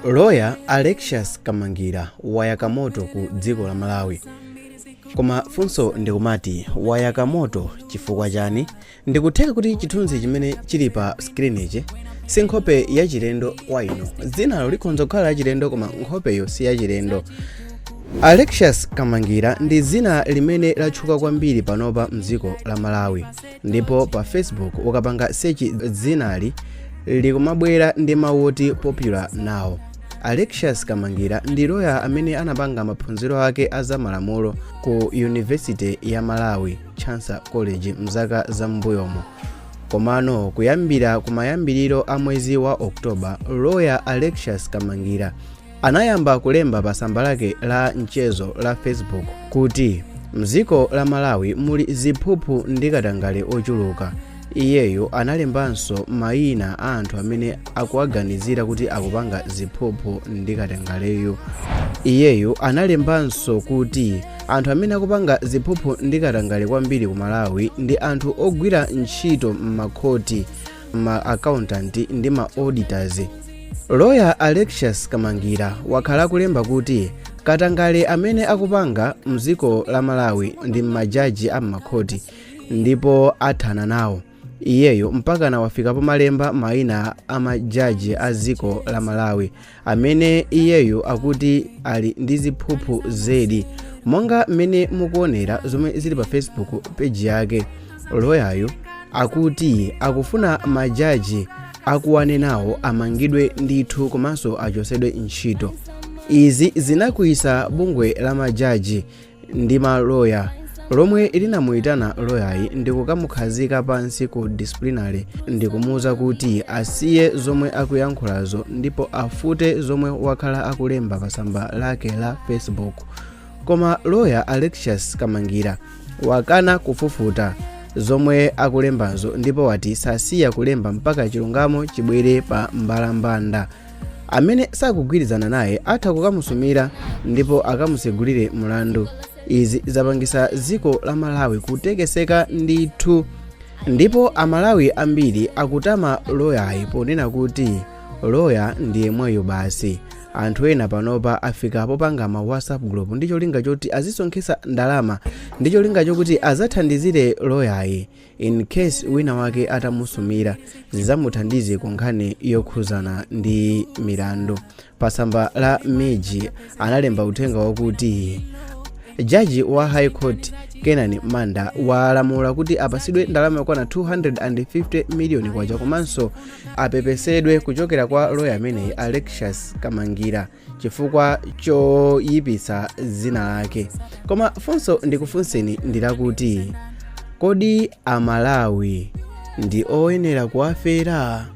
Lawyer Alexious Kamangira wayaka moto ku dziko la Malawi. Koma funso ndikumati wayaka moto chifukwa chani? Ndikutheka kuti chithunzi chimene chili pa screen ichi si nkhope yachilendo kwa inu. Dzinalo likhonza kukhala lachilendo koma nkhopeyo si yachilendo. Alexious Kamangira ndi dzina limene latchuka kwambiri panopa mdziko la Malawi. ndipo pa facebook ukapanga search dzinali likumabwera ndi mawu oti popular now alexius kamangira ndi loya amene anapanga maphunziro ake a zamalamulo ku university ya malawi Chancellor College mzaka za m'mbuyomo komano kuyambira kumayambiriro a mwezi wa oktoba loya alexius kamangira anayamba kulemba pa tsamba lake la mchezo la facebook kuti mdziko la malawi muli ziphuphu ndi katangale ochuluka iyeyo analembanso mayina a anthu amene akuwaganizira kuti akupanga ziphuphu ndi katangaleyo iyeyo analembanso kuti anthu amene akupanga ziphuphu ndi katangale kwambiri ku malawi ndi anthu ogwira ntchito m'makhoti ma accountant ndi ma auditors lawyer alexius kamangira wakhala akulemba kuti katangale amene akupanga mdziko la malawi ndi majaji a m'makhoti ndipo athana nawo iyeyo mpakana wafika pomalemba maina a majaji a dziko la malawi amene iyeyo akuti ali ndi ziphuphu zedi monga mmene mukuonera zomwe zili pa facebook page yake loyayu akuti akufuna majaji akuwanenawo amangidwe ndithu komanso achosedwe ntchito izi zinakwiyitsa bungwe la majaji ndi maloya lomwe linamuyitana loyayu ndikukamukhazika pansi ku disciplinary ndikumuwuza kuti asiye zomwe akuyankhulazo ndipo afute zomwe wakhala akulemba pa tsamba lake la facebook koma loya alexius kamangira wakana kufufuta zomwe akulembazo ndipo wati sasiya kulemba mpaka chilungamo chibwere pa mbalambanda amene sakugwirizana naye atha kukamusumira ndipo akamusegulire mlandu izi zapangisa dziko la malawi kutekeseka ndithu ndipo amalawi ambiri akutama loyayu ponena kuti loya ndiye uyu basi anthu ena panopa afika popanga ma whatsapp group ndi cholinga choti azisonkhesa ndalama ndi cholinga chokuti azathandizire loyayu in case wina wake atamusumira zizamuthandiza ku nkhani yokhuzana ndi milandu pa tsamba la MIJ analemba uthenga wakuti jaji wa high court Kenan Manda walamula kuti apasidwe ndalama yokwana 250 miliyoni kwacha komanso apepesedwe kuchokera kwa loya ameneyi alexius Kamangila chifukwa choyipitsa dzina lake koma funso ndikufunseni ndilakuti kodi amalawi ndi oyenera kuwafera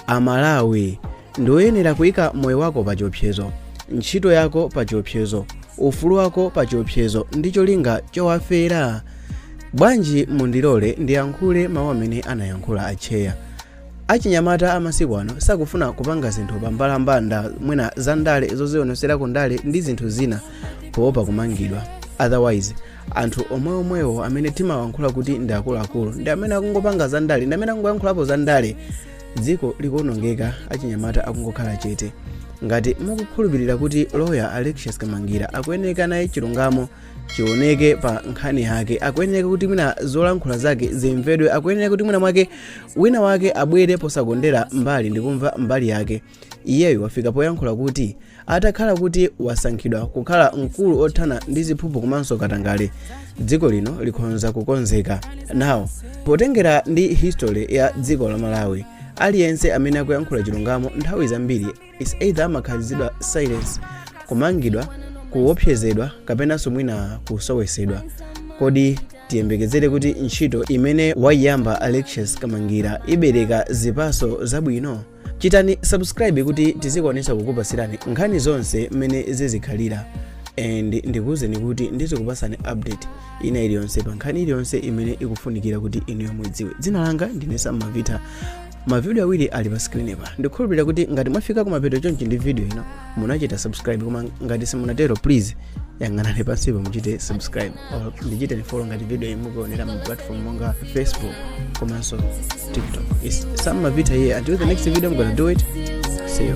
amalawi ndi oyenera kuyika moyo wako pa chiopsezo ntchito yako pa chiopsezo ufulu wako pa chiopsezo ndi cholinga chowafera bwanji mundilole ndiyankhule mawu amene anayankhula atcheya Achinyamata amasiku ano sakufuna kupanga zinthu pa mbalambanda mwina za ndale zozionesera ku ndale ndi zinthu zina poopa kumangidwa otherwise anthu omweomwewo amene timawankhula kuti ndi akuluakulu ndi amene akungopanga za ndale ndi amene akungoyankhulapo za ndale dziko likuonongeka achinyamata akungokhala chete ngati mukukhulupirira kuti loya alexius Kamangila akuyeneka naye chilungamo chioneke pa nkhani yake akuyeneka kuti mwina zolankhula zake zimvedwe akuyeneka kuti mwina mwake wina wake abwere posakondera mbali ndikumva mbali yake iyeyo wafika poyankhula kuti atakhala kuti wasankhidwa kukhala mkulu othana ndi ziphuphu komanso katangale dziko lino likhonza kukonzeka now potengera ndi history ya dziko la malawi aliyense amene akuyankhula chilungamo nthawi zambiri is either amakhazidwa silence kumangidwa kuopsezedwa kapenanso mwina kusowesedwa kodi tiyembekezere kuti ntchito imene waiyamba Alexius Kamangila ibereka zipaso zabwino chitani subscribe kuti tizikwanisa kukupasirani nkhani zonse mmene zizikhalira and ndikuwuzeni kuti ndizikupasani update ina iliyonse pa nkhani iliyonse imene ikufunikira kuti inuyo muidziwe dzina langa ndine Sam Mavita mavidiyo awiri ali pa screenpa ndikhulupirira kuti ngati mwafika kumapeto chonchi ndi video ino munachita subscribe koma ngati simunatero please yang'anani pansipo muchite subscribe or ndichiteni follow ngati video iyi mukuonera mu platform monga facebook komanso tiktok it's Sam Mavita here until the next video i'm gonna do it see you